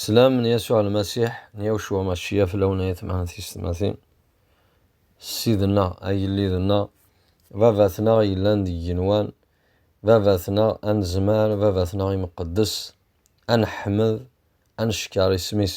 Slam n Yasuɛ Lmasiḥ n Yawcua Macciya fell-awen ay atmaten tiyessetmatin, Ssid-nneɣ, agellid-nneɣ, Baba-tneɣ yellan deg yigenwan, Baba-tneɣ anezmar, Baba-tneɣ imqeddes, ad neḥmed, ad neckeṛ isem-is.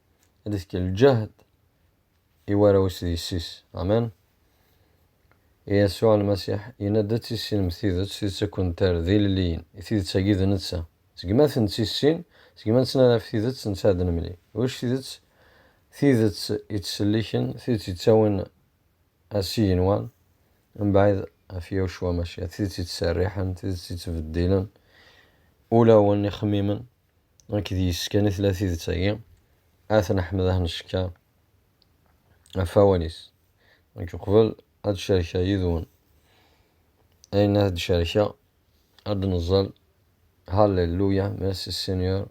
ad ifk lǧehd i warraw-is d yessi-s. Amen. Yasuɛ Lmasiḥ yenna-d ad tissinem tidet, tidet ad kent-terr d ilelliyen. I tidet-agi d netta. Seg ma tentissin, seg ma nettnadi ɣef tidet, netta ad nemlil. Ulac tidet, tidet yettselliken, tidet yettawin ar Syigenwan, mebɛid ɣef Yahucua Maciah, tidet yettserriḥen, tidet yettbeddilen ulawen, ixemmimen. Nekk d yes-s kan i tella tidet-agi, At n Ḥmed ah necka ɣef awal-is. Nekk uqbel ad d-cerkeɣ yid-wen ayen ad d-cerkeɣ, ad d-neẓẓel Halleluya, Merci Seigneur,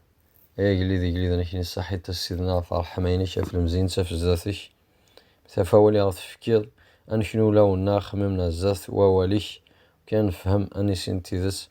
Ay agellid igelliden-ik nissaḥit a Ssidna ɣef ṛṛeḥma-inek, ɣef lemziyent, ɣef zdat-ik, met ɣef awal i ɣ-tefkiḍ, ad neknu ulawen-a, axemmem-na zdat wawal-ik, ukan nefhem, ad nissin tidet.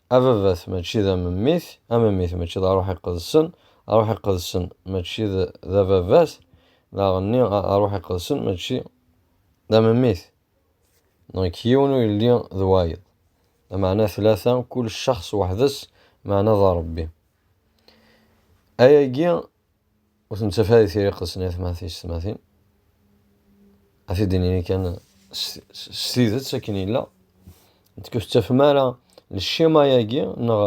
Ababat mačči d amemmit, amemmit mačči d aṛuḥ iqedsen, aṛuḥ iqedsen mačči d ababat, daɣenni aṛuḥ iqedsen mačči d amemmit. Donc yiwen ur yelli d wayeḍ. Lameɛna tlata, kul ccex weḥd-s, meɛna d Ṛebbi. Ayagi Ur tettaf ara tiri qessen atmatis-tmatin. A t-id-nini kan s tidet akken yella. Nekk ur tettafem ara lcima-agi neɣ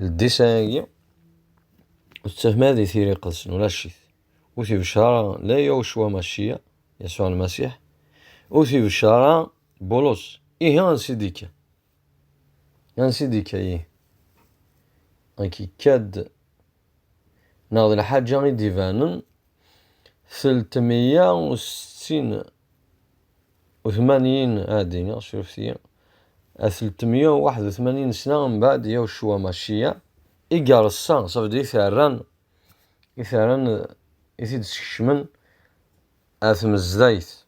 ldisa-agi. Ur tettafem ara di tiri qessen, ulac-it. Ur t-ibeccer ara la Yawcwa Macciya, Yasuɛ Lmasiḥ, ur t-ibeccer ara Bulus. Ihi ansi d-ikka? Nansi d-ikka-yi. Ak ikka-d. Neɣ d lḥaǧa i d-ibanen teltmeyya u settin u tmanyin ad d-iniɣ, surefet-iyi, teltmeyya u waḥed u tmanyin sna mbeɛd yaw cwa maciya i yeṛsa, ça veut dire i t-rran, i t-rran, i t-id-skecmen ar tmezdayt.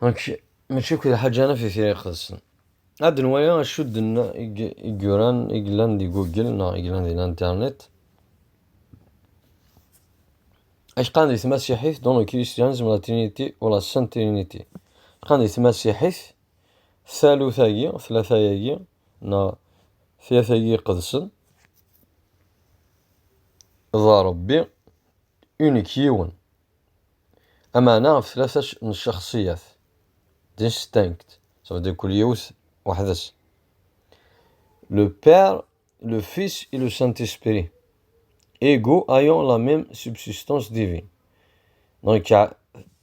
Donc, mačči akk d lḥaǧana fi tira iqedsen. Ad nwaya acu d igguran i yellan di Google neɣ i yellan di Internet. Acqan di tmasiḥit, dans le christianisme la trinité ou la sainte trinité. Acqan di tmasiḥit, talut-agi, tlata-agi, neɣ tlata-agi iqedsen, d Rebbi, unik yiwen. Amaɛna ɣef tlata n ccaxṣiyat, distinct, ça veut dire kul yiwet weḥd-s, le Père, le Fils et le Saint-Esprit, ego ayant la même subsistance divine. Donc,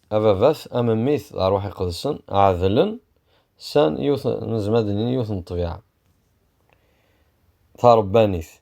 ababat, am mmi-t, d arwaḥ iqedsen, ɛedlen, san yiwet, nezmer ad nini yiwet n ṭṭbiɛa tarebbanit.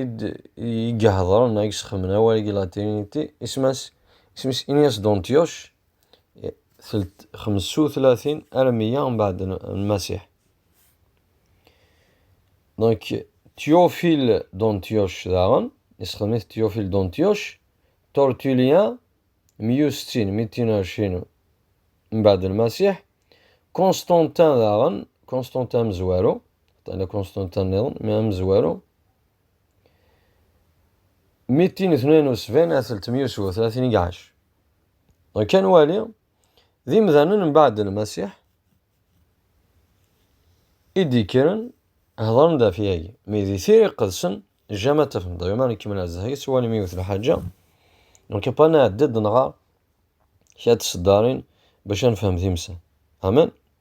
i d-iheḍren neɣ i yesxedmen awal i latiniti, isem-is Ignasi Dontius, telt xemsa u tlatin ar meyya mbeɛd Lmasiḥ. Donc, Théophile Dontius daɣen, yessexdem-it Théophile Dontius, Tortulien, meyya u settin, mi d ar cin mbeɛd Lmasiḥ, Constantin daɣen, Constantin amezwaru, Ṭṭina konstanta nniḍen, mi amezwaru. Mi d tin itnayen usban ad teltemyusu, tlatin i iɛac. Kan wali, d imdanen mbaɛd n Lmasiḥ i d-ikkren hedren-d ɣef yagi, mi di tira iqedsen jama tafneḍ, yoma nkemmel ad zehri s walmi iwet lḥaǧa, nekk pa nɛeddi-d nɣer kra tseddarin bac ad nefhem timsa. Amen.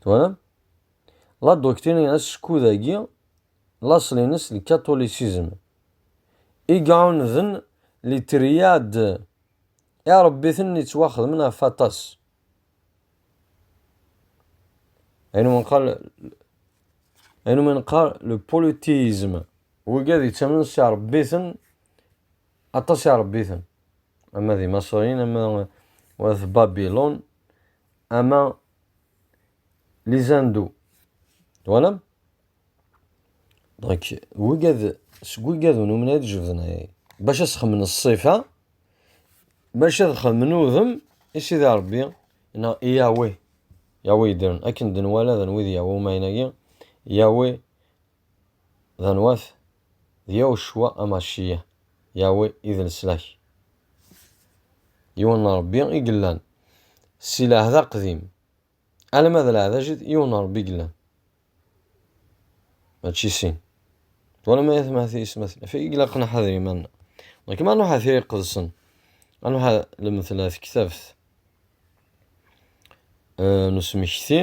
Twalam? La doctrine askud-agi laṣel-ines d catholicism i iɛunden li triade iɛrebbiten yettwaxedmen ɣef aṭas. Ayen umi nqal ayen umi nqal le polythéisme, wigi ad yettamen s iɛrebbiten Aṭas i ṛebbiten, ama d Imaṣriyen, ama d At Babilun, ama les Hindous. Twalam? Donc, wigad, seg wigad n umnay d jebden ay, bac ad sxemmen ṣṣifa, bac ad xemmen udem i Sidi Ṛebbi, neɣ i Yahweh, Yahweh yeddren, akken d-nwala d wid Yahweh umayen-agi, Yahweh D anwa-t? D Yahucwa Amacciyah, Yahweh i d leslak. Yiwen n Ṛebbi i yellan si lɛehd aqdim alamma d lɛehd ajdid, yiwen n Ṛebbi i yellan, mačči sin. Twalam ay atma ati isem-asen ɣef i ilaq nḥader iman-nneɣ. Nekk ma nruḥ ɣer Tira Iqedsen, ad nruḥ ɣer Lmetla Tektabt n usmekti,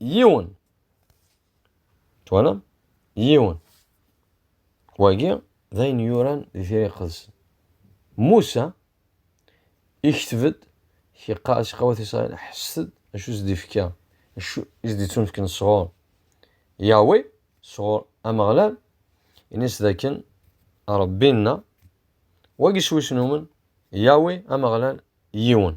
yiwen twalam yiwen wagi d ayen yuran di tira iqedsen Musa ikteb-d iqas iqawat Israel ḥesset acu s-d-ifka acu is-d-ittunefken sɣur Yawe sɣur Ameɣlal ini-s dakken Rebbi-nna wagi s wis numen Yawe Ameɣlal yiwen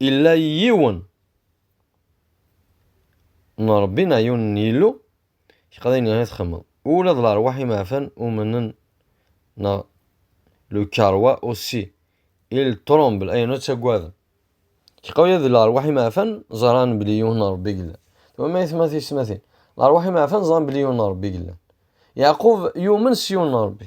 Illa yiwen n Ṛebbi neɣ yiwen n Yillu iqeḍ ayen i txemmeḍ. Ula d lerwaḥ imeɛfan umnen neɣ le cœur roi aussi, il tremble ay nut ttaggaden. Tgeqqa ula d lerwaḥ imeɛfan ẓran belli yiwen n Ṛebbi yellan. Twam ayetma tiyesmatin? Lerwaḥ imeɛfan ẓran belli yiwen n Ṛebbi yellan. Yeɛqub yumen s yiwen n Ṛebbi.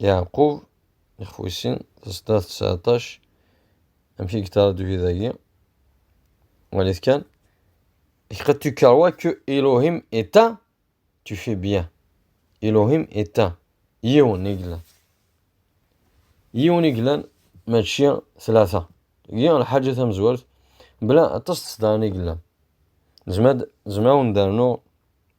Yeɛqub, ixf wis sin, sdat tseɛṭac, amek i yetraduy dagi, walit kan, et que tu crois que Elohim est un, tu fais bien. Elohim est un. Yiwen i yellan. Yiwen i yellan, mačči tlata. Gi lḥaǧa tamezwart, bla aṭas tesdaɣin i yellan. Nezmer ad wen-d-rnuɣ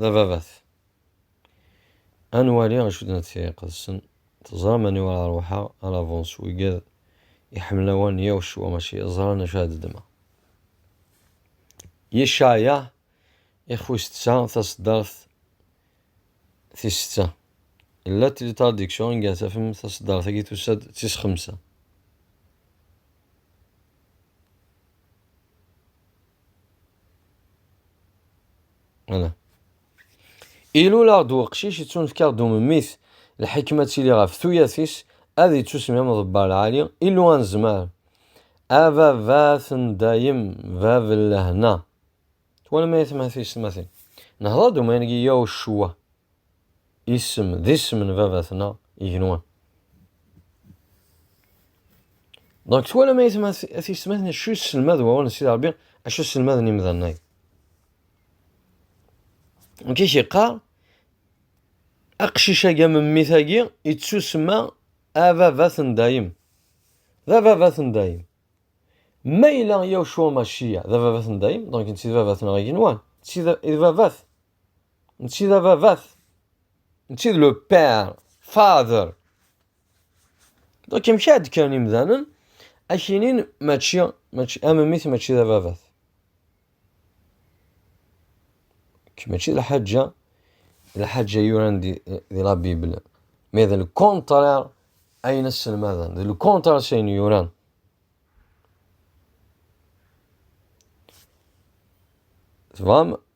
d ababat. Ad nwali acu d nettiya iqedsen, teẓram aniwa ara ruḥeɣ, à l'avance wigad iḥemmel awan yaw ccwa mačči ẓran acu ara d-ddmeɣ. Yecaya ix wis tsa taseddart tis setta. La tlitraduction i gar tafem taseddart-agi tusa-d d tis xemsa. Ilul aɣ-d weqcic yettunefk-aɣ d umemmit lḥikma ad tili ɣef tuyat-is ad yettusmi am ḍebbar lɛali Illu anezmar ababat n dayem bab n lehna twalam ay atmaten s tmatin nehḍer-d umayeg i yaw ccwa isem d isem n baba-tneɣ igenwan. Donc twalam ay tisetmatin acu yesselmad wawal n Sidi Rebbi acu sselmaden imdanen-agi. Donc i k-yeqqar aqcic-agi am mmi-tagi yettusemma ababat n dayem. D ababat n dayem. Ma yella Yahucua Maciya d ababat n dayem, donc netta d babat-nneɣ igenwan, d babat Mačči d ababat. Mačči d le père, father. Donc amek ad kkren imdanen akinin mačči mačči am mmi-t mačči d ababat. Mačči d lḥaǧa d lḥaǧa yuran di, di la Bible. Mais d le contraire ayen asselmaden. D le contraire s ayen yuran. Tebɣam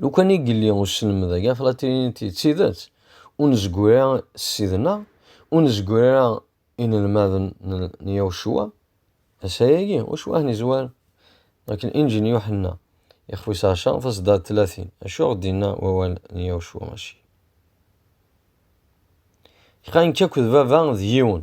Lukan i yelli uselmed-agi ɣef latinit d tidet, ur nezgir ara s sidna, ur nezgir ara inelmaden n Yawcua, asayagi, ur cwaḥ nizwar, akken inǧi n Yuḥenna, ixef wis ɛecṛa, tasedda d tlatin, acu i ɣ-d-yenna wawal n Yawcua Maci? Iqayen-k akk d baba d yiwen.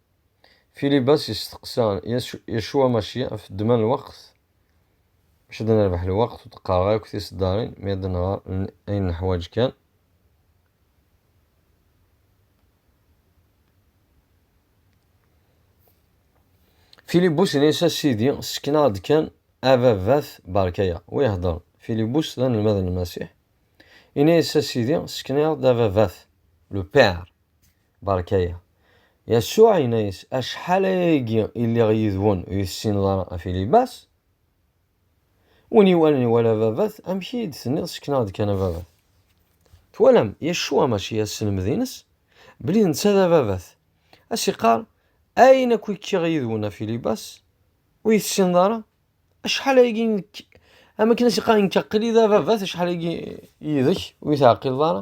Filibas yesteqsa Yasuɛ Maciɛ ɣef ddemma n lweqt, maca ad nerbeḥ lweqt ur d-qqareɣ akk tiseddarin, mi ad nɣer ayen neḥwaǧ kan. Filibus inna-yas a Sidi, ssken-aɣ-d kan ababat berka-ya. Wa ihedder, Filibus d anelmad n Lmasiḥ, inna-yas a Sidi, ssken-aɣ-d ababat, le Père. Berkaya. Yasuɛ yenna-yas, Acḥal ayagi i lliɣ yid-wen ur iyi-tessineḍ ara a Filibas? Win iwalan iwala Ababat, amek iyi-d-tenniḍ ssekneɣ-d kan Ababat? Twalam, Yasuɛ mačči as-selmed-ines, belli d netta d Ababat. A s-iqqar, Ayen akk i kkiɣ yid-wen a Filibas, ur iyi-tessineḍ ara? Acḥal ayagi nekk, am akken a s-iqqar, nekk aql-i d Ababat, acḥal ayagi yid-k ur iyi-teɛqileḍ ara?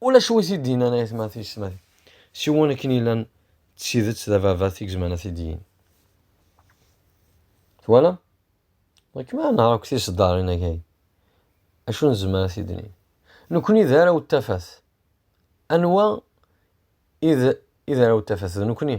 Ulac wi t-id-yennan ay atma tiyesmatin, siwa akken yellan d tidet d ababat i yezmaren ad t-id-yini. Twalam? Nekk mi ara nehṛeɣ akked tiseddaṛin agi, acu nezmer ad t-id-nini? Nekkni d arraw n tafat. Anwa i d arraw n tafat? D nekkni.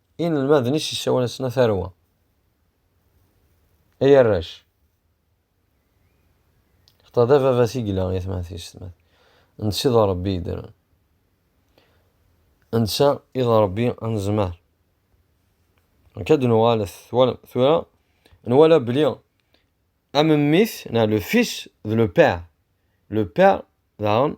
Inelmaden i s-yessawal-asen a tarwa, ay arrac. Xeṭṭa d ababat i yella i tmatis, netta i d Ṛebbi yeddren, netta i d Ṛebbi anezmar. Akka d nuɣalet, twalem, tura nwala bli am mmi-s, na le fils d le père, le père daɣen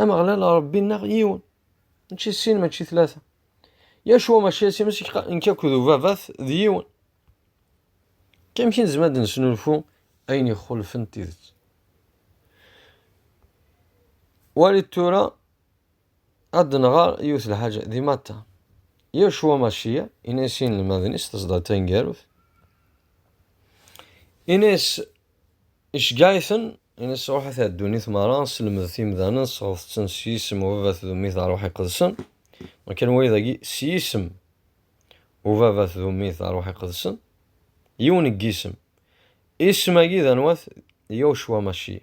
Ameɣlal Ṛebbi-nneɣ yiwen, mačči sin, mačči tlata. Yacwa mačči ass imes nekk akked ubabat d yiwen. Amek i nezmer ad nesnulfu ayen ixulfen tidet? Walit tura Ad d-nɣer yiwet lḥaǧa di Matta. Yacwa Maciya, in-as i inelmaden-is teẓda taneggarut. In-as iceggeɛ-iten, in-as ruḥet ar ddunit merra, sselmedet imdanen, sɣedet-ten s yisem ubabat d ummit ɣer ruḥ iqedsen. Makan waya dagi, s yisem ubabat d ummit ɣer ruḥ iqedsen, yiwen n yisem. Isem-agi d anwa-t? D Yacwa Maciya.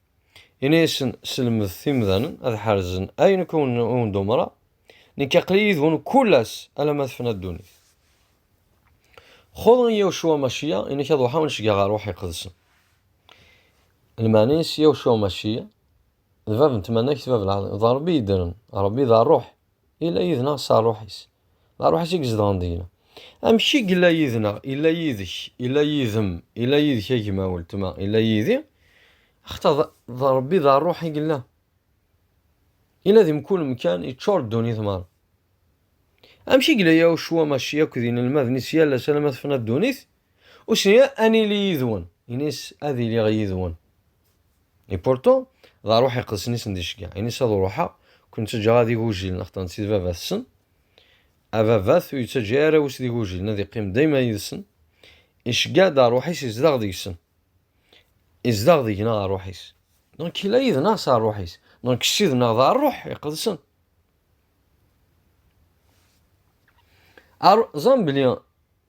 Ini-asen selmet imdanen ad ḥerzen ayen akk wen-d-umreɣ, nekk aql-i yid-wen kul ass alamma tefna ddunit. Xud Yawcua Maciya, ini-k ad uḥaw necga ɣer Ṛuḥ Iqedsen. Lmeɛna-is Yawcua Maciya, d bab n tmanegt, bab lɛaḍima, d Ṛebbi yeddren, Ṛebbi d Ṛṛuḥ, Yella yid-neɣ s ṛṛuḥ-is. D ṛṛuḥ-is i izedɣen deg-neɣ. Amek i yella yid-neɣ? Yella yid-k, yella yid-m, yella yid-k a gma, weltma, yella yid-i, axaṭer d Ṛebbi d ṛṛuḥ i yella. Yella di mkul amkan, yeččur ddunit meṛṛa. Amek i yella Yahucwa Maciya akked inelmaden-is yal ass alamma tefna ddunit? Usni ad nili yid-wen. Ini-as ad iliɣ yid-wen. Et pourtant, d aruḥ iqedsen i sen-d-iceggeɛ. Ini-as ad uruḥeɣ, ur ken-ttaǧǧaɣ ara d igujilen, axaṭer netta d baba-tsen. Ababat ur yettaǧǧa ara arraw-is d igujilen, ad iqqim dayma yid-sen. Iceggeɛ-d aruḥ-is izdeɣ deg-sen. Izdeɣ deg-neɣ aruḥ-is. Donc yella yid-neɣ s aruḥ-is. Donc Ssid-nneɣ d aruḥ iqedsen. Ar, ẓran belli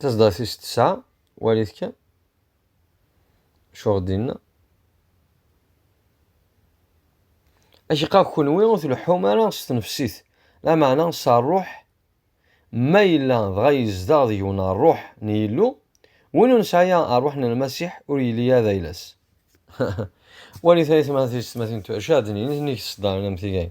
Taseḍra tis tesɛa, walit kan. Acuɣ dinna? Acqa kunwi ur tleḥḥum ara s tnefsit, lameɛna s rruḥ, ma yella dɣa yezdeɣ deg-wen rruḥ n Yillu, win ur nesɛi rruḥ n Lmasiḥ ur yelli ara d ayla-s. Walit ayetma tisetmatin, acḥal d nnig tesdarin am tigay.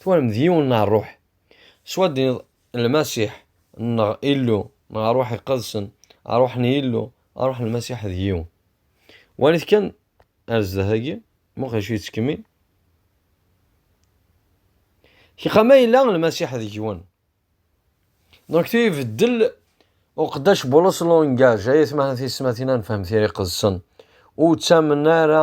Twalam d yiwen n rruḥ. S waddin-iḍ, Lmasiḥ neɣ Illu neɣ rruḥ iqedsen, rruḥ n Yillu, rruḥ n Lmasiḥ d yiwen. Walit kan ar zdat-agi, muqel acu yettkemmil. Kiqa ma yella Lmasiḥ d yiwen. Donc tu ibeddel uqeddac Bulus lungaj, ay atmaten tiyesmatin ad nefhem tira iqedsen. Ur ttamen ara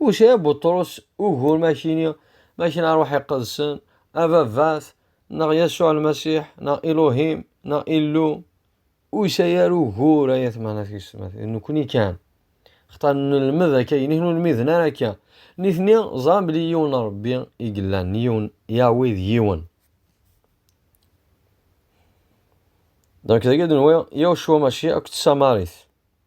Ucɛib Buṭrus, ugur makini, makini ṛṛuḥ iqedsen, a Baba-t, neɣ Yasuɛ Lmasiḥ, neɣ Iluhim, neɣ Illu. Ur yesɛi ara ugur ay atmaten tisetmatin, d nekkni kan. Xaṭer nelmed akka, ayen i ken-ur lmiden ara akka. Nitni ẓran belli yiwen Ṛebbi i yellan, yiwen Yahweh d yiwen. Donc dagi d-nwi Yahucua Maciɛ akked tsamarit.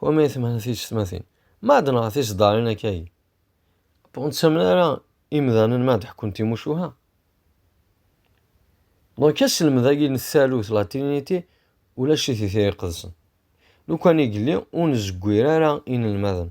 Wa ma yettemɛen tiyessetmatin. Ma d neɣ tiseddarin akka yi. Ur nettamen ara imdanen ma d-ḥekkun timucuha. Donc aselmed-agi n tsalut la trinité ulac-it i tira iqedsen. Lukan i yelli ur nezgwir ara inelmaden.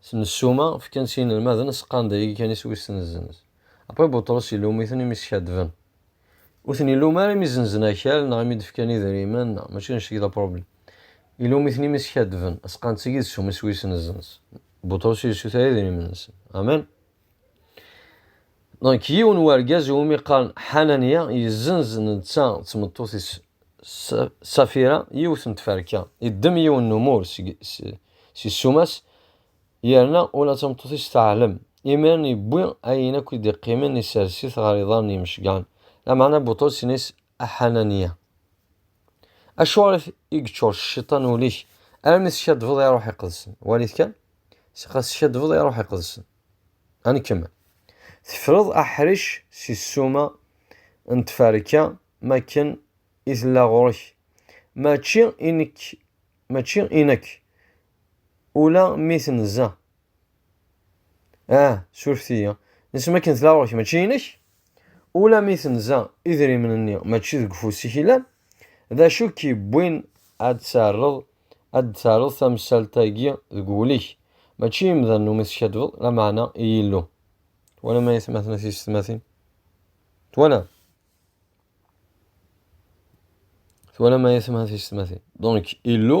S nessuma, fkan s yinelmaden aseqqan d ayagi kan iswi ssenzen-s. Après Buṭrus ilum-iten imi skaddben. Ur ten-ilum ara imi zenzen akal neɣ imi d-fkan idrimen, mačči annect-agi d apṛublem. Ilum-iten imi skaddben, aseqqan d tagi d ssuma iswi ssenzen-s. Buṭrus yessuter idrimen-nsen. Amen! Donc yiwen wergaz iwumi qqaren Ḥananya yezzenz netta d tmeṭṭut-is Safira yiwet n tferka, iddem yiwen n umur si ssuma-s yerna ula d tameṭṭut-is teɛlem. Imiren yewwi ayen akk i d-iqqimen isers-it ɣer iḍarren n yimecgaṛen, lameɛna Buṭrus inna-as a Ḥananiya. Acuɣer i yeččur cciṭan ul-ik armi teskadbeḍ i Ṛṛuḥ Iqedsen? Walit kan, ɣas teskadbeḍ i Ṛṛuḥ Iqedsen. Ad nkemmel. Tefreḍ aḥric si ssuma n tferka mi akken i tella ɣur-k. Mačči i nekk, mačči i nekk, ula mi tenza Ah, surfet-iyi. Isem akken tella ɣur-k mačči inek? Ula mi tenza idrimen-nni mačči deg ufus-ik yellan, d acu i k-yewwin ad d-terreḍ ad d-terreḍ tamsalt-agi deg wul-ik? Mačči i yimdanen umi teskaddbeḍ, lameɛna i Yillu. Twalam ay atmaten a tiysetmatin? Twalam? Twalam ay atmaten a tiysetmatin? Donc, Illu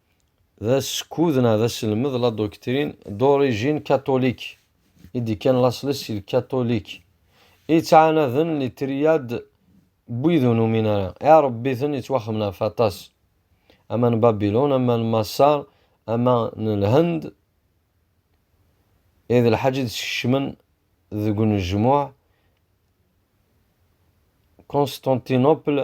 d askud neɣ d aselmed la doctrine d'origine catholique i d-ikkan laṣel-is si lkatulik i yettɛanaden li triad n wid ur numin ara iɛrebbiten yettwaxemen ɣef aṭas ama n Babilun ama n Maṣer ama n Lhend i d lḥaǧ i d-skecmen deg unejmuɛ Constantinople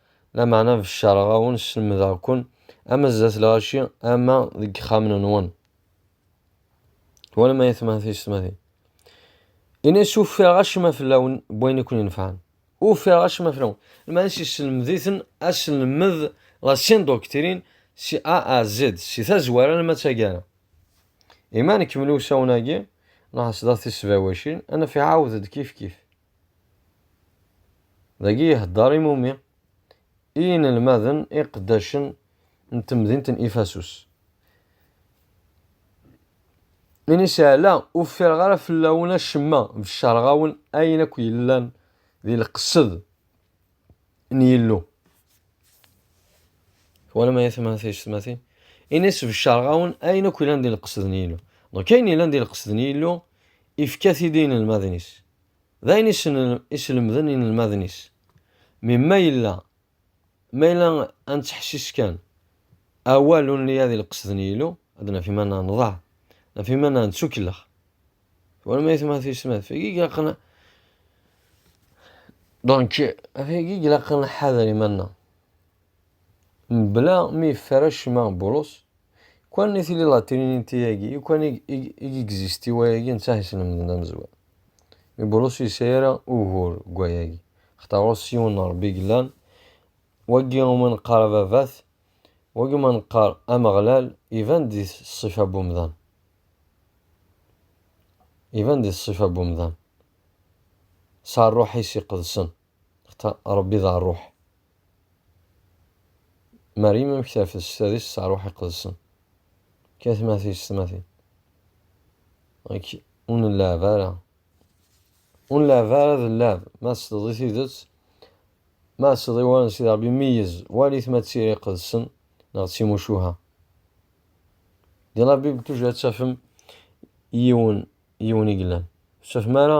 Lameɛna beccareɣ-awen, slemdeɣ-ken, ama zdat lɣaci, ama deg yexxamen-nwen. Twalam ay atmaten tiysetmatin? Ini-as ufiɣ acemma fell-awen n wayen i ken-inefɛen. Ufiɣ acemma fell-awen. Lmeɛna-s yesselmed-iten aselmed, la sindoctrine, si A à Z, si tazwara alamma d taggara. Imi ara nekmel i usawen-agi, nɛass daɣ tisbawacin, ad naf iɛawed-d kifkif. Dagi ihedder i Mumi i yinelmaden iqeddacen n temdint n Ifasus. Ini seɛla ur ffireɣ ara fell-awen acemma, beccareɣ-awen ayen akk yellan di lqesed n Yillu. Twalam ay atmaten tiyessetmatin? Ini-as beccareɣ-awen ayen akk yellan di lqesed n Yillu. Donc ayen yellan di lqesed n Yillu Ifka-t-id i yinelmaden-is. D ayen i slemden yinelmaden-is. Mi ma yella, ma yella ad nettḥessis kan, awal ur nelli ad ileqqes d Nyilu, ad naf iman-nneɣ nḍaɛ, naf iman-nneɣ nettukellex. Twalam ay atma tiysnat? Agi ilaqen donc agi ilaqen ad nḥader iman-nneɣ. Mebla mi yeffer acemma Bulus, kwan i tili la Trinité-agi, i kwan i gexziste i wayagi netta i s-lemden amezwaru. Mi Bulus ur yesɛi ara ugur deg wayagi, axaṭer ɣur-s yiwen n Ṛebbi i yellan, wagi i wumi neqqar Ababat, wagi i wumi neqqar Ameɣlal, iban-d di ṣṣifa n wemdan. Iban-d di ṣṣifa n wemdan, s Ṛṛuḥ-is iqedsen. Xta Ṛebbi d Ṛṛuḥ. Maryem amek terfed s tadist s Ṛṛuḥ Iqedsen? Kka tmati s tmati. Ak ur nleɛɛeb ara. Ur nleɛɛeb ara d lleɛeb. Ma tesleḍ i tidet, ma tesleḍ i wawal n Sidi Ṛebbi, meyyez, wali-t ma d tira iqedsen neɣ d timucuha. Di la Bible toujours ad tafem yiwen yiwen i yellan. Ur tettafem ara